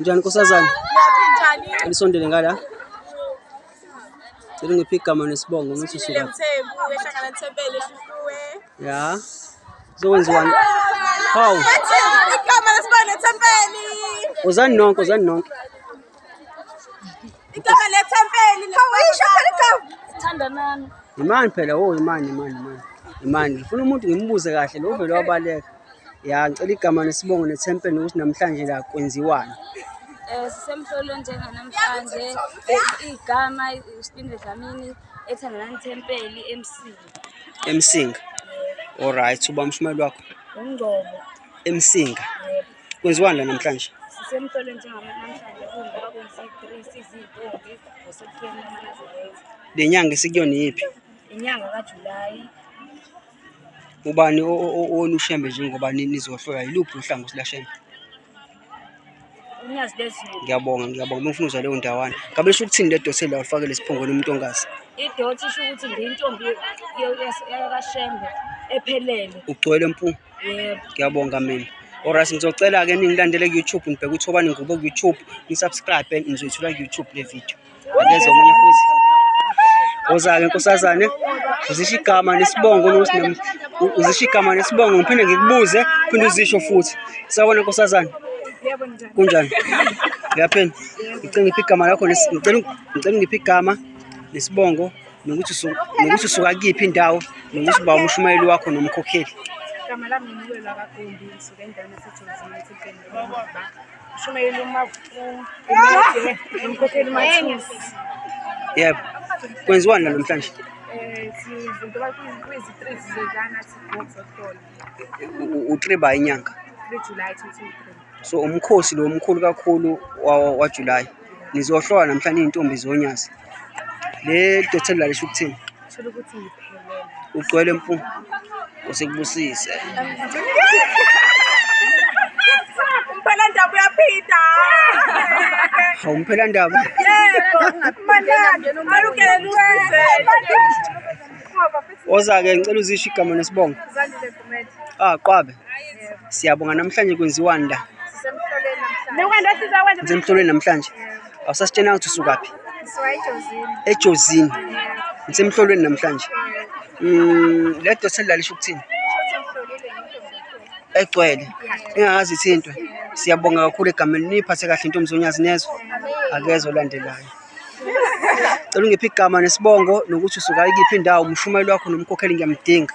Njani nkosazana? Elisondele ngala. Cela ngiphe igama nesibongo ngithi suka. Ya. Zokwenziwani? Hawu. Igama lesibongo Thempeli. Uzani nonke, uzani nonke. Igama lethempeli Thandanani. Imani phela wo oh, imani imani imani. Imani ngifuna umuntu ngimbuze kahle lo vele wabaleka. Ya ngicela igama nesibongo nethempeli ukuthi namhlanje la kwenziwani. Eh sisemhlolweni njenganamhlanje eh, igama isipinde Dlamini ethandanani thempeli emsinga. Emsinga. Alright uba mshumeli wakho. Ungcobo. Emsinga. Kwenziwani la namhlanje? Sisemtolo njengama namhlanje kungoba kwenzi-three sizintombi ngoSepthemba manazilenza. Le nyanga esikuyona iyiphi? Inyanga kaJulayi Ubani o- o- o- owona ushembe njengoba ni- nizohlola yiluphi uhlangothi lashembe? uNyazi lezulu. Ngiyabonga, ngiyabonga. Bengifuna uzwa leyo ndawana. Ngabe lisho ukuthini le dose la ulifakele esiphongweni umuntu ongazi? Idoti isho ukuthi ngiyintombi yo- yas- yakashembe ephelele. Ugcwele mpunga. Yebo. Ngiyabonga mina. Alright ngizocela ke ningilandele ku YouTube ngibheke ukuthi obani ngikubo ku YouTube, ngisubscribe nizoyithola ku YouTube le video. Angeze omunye futhi. Ozake nkosazane uzisho igama nesibongo nokuthi uzisho igama nesibongo ngiphinde ngikubuze phinde uzisho futhi. Sawona nkosazane. Yebo njani? Kunjani? Ngiyaphela. Ngicela ngiphe igama lakho ngicela ngicela ngiphe igama nesibongo nokuthi nokuthi suka kuyiphi indawo nokuthi uba umshumayeli wakho nomkhokheli igama lami ngiwelwa kagumbi ngisuke endaweni esejozini ethinteni umshumayeli umkhokheli umathisi yebo kwenziwani namhlanje utriba inyanga So umkhosi lo mkhulu kakhulu waJulayi. Nizohlola namhlanje izintombi zonyazi. Le dothelo lalisho ukuthini? Thola ukuthi ngiphelele. Ugcwele mfu. Usekubusise. Umphela ndaba uyaphida. Hawu umphela ndaba. Yebo. Manani. Alukele luze. Oza ke ngicela uzisho igama nesibongo. Ah, Qwabe. Siyabonga namhlanje kwenziwani la? Ngisemhlolweni namhlanje. Awusasitshena ukuthi usukaphi? Ejozini. Ngisemhlolweni namhlanje. Mm, le dosi elalisho ukuthini? Egcwele. Engakazi ithintwe. Siyabonga kakhulu egameni niphathe kahle intombi zonyazi nezwe. Akezwe olandelayo. Cela ungiphe igama nesibongo nokuthi usuka ikiphi indawo umshumayeli wakho nomkhokheli ngiyamdinga.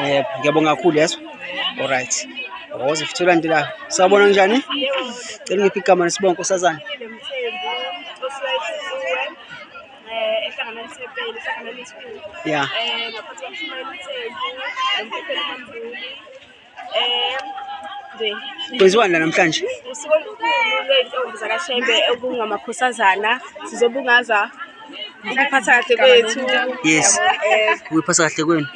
Eh ngiyabonga kakhulu yes. Alright. Waze futhela nti la. Sabona njani? Cela ngiphi igama nesibongo nkosazana. Yeah. Eh, kwenziwani la namhlanje usuku olukhulu lwey'ntombi zakashembe okungamakhosazana sizobungaza ukuphatha kahle kwethu yes ukuyiphatha kahle kwenu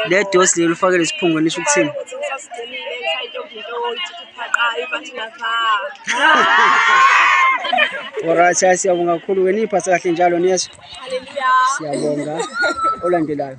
le dosi leli ufake lesiphungo nisho ukuthini Alright, siyabonga kakhulu ke niphathe kahle njalo niyezwa. Siyabonga olandelayo.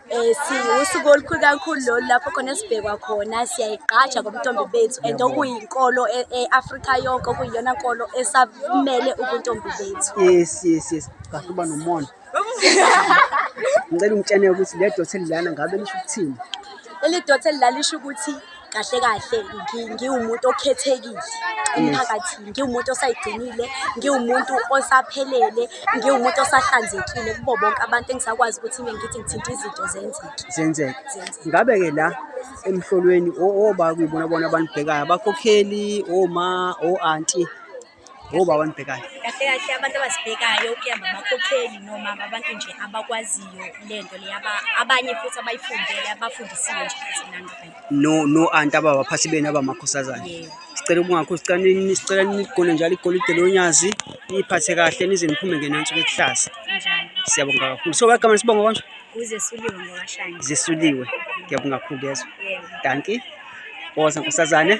Eh, siwusuku olukhulu kakhulu lolu lapho khona sibhekwa khona siyayigqaja ngobuntombi bethu and okuyinkolo e- e-afrika yonke okuyiyona nkolo esamele ubuntombi bethu yes yes yes kahle uba nomona ngicela ungitsheneke ukuthi le dothe lilana ngabe lisho ukuthini leli dothe lilalisho ukuthi kahle kahle ngi- ngiwumuntu okhethekile emphakathini ngiwumuntu osayigcinile ngiwumuntu osaphelele ngiwumuntu osahlanzekile kubo bonke abantu engisakwazi ukuthi mina ngithi ngithinta izinto zenzeke zenzeka Zenzeka. ngabe-ke la emhlolweni o- oba kuyibona bona abanibhekayo abakhokheli oma o-anti Ngoba abantu bhekani. Kahle kahle abantu abasibhekayo kuyamba amakhokheli noma abantu nje abakwaziyo lento le abanye futhi abayifundele abafundisiwe nje futhi nani right. No no anti ababaphathi benu abamakhosazana. Yebo. Sicela ukungakho sicela nini sicela nigone njalo igolide lonyazi niphathe kahle nize niphume ngenansi kwekuhlaza. Kanjani? Siyabonga kakhulu. So bagama sibonga konje. Kuze suliwe ngokashani. Zisuliwe. Ngiyabonga kakhulu kezwe. Yebo. Dankie. Boza nkosazane.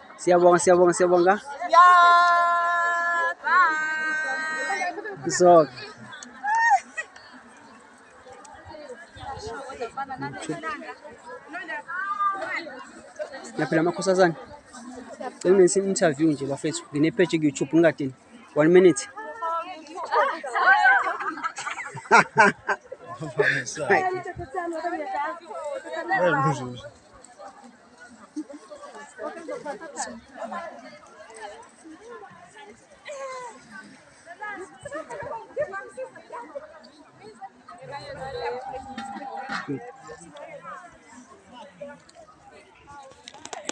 Siyabonga siyabonga siyabonga. So Naphila amakhosazana. Cela ngenze interview nje bafethu. Ngine page ku YouTube ngingadini. 1 minute. Vai. Vai, Vai.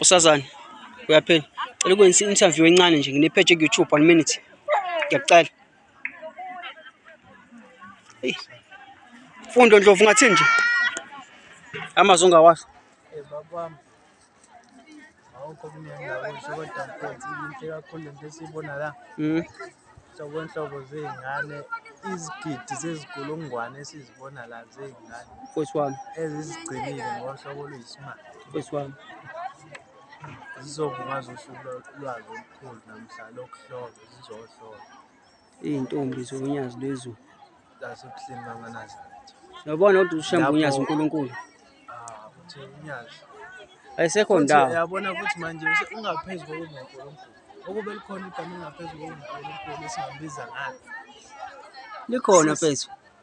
Usazani uyaphela cela ukwenza i-interview encane nje nginepheje ku-youtube one minute ngiyakucela eyi fundo ndlovu ungathini nje amazwi ongawasho Eh, bakwami awukho kunendawo nje kodwa mfethu inhle kakhulu lento esiyibona la Mm. hlobo nhlobo zey'ngane izigidi zezigulungwane esizibona la zey'ngane Mfowethu wami, ezizigcinile ngohlobo oluyisimanga mfowethu wami. zizobungaza usuku lwa- lwazo olukhulu namhla lokuhlolwa zizohlolwa Izintombi zolunyazi lwezulu. That's what Slim Manganazi. Yabona ukuthi ushembe unyazi uNkulunkulu. Ah, uthi unyazi. Ayisekho ndawo. Yabona ukuthi manje ungaphezulu kokuNkulunkulu. Ukube likhona igama engaphezulu kokuNkulunkulu esingambiza ngalo. Likhona mfethu.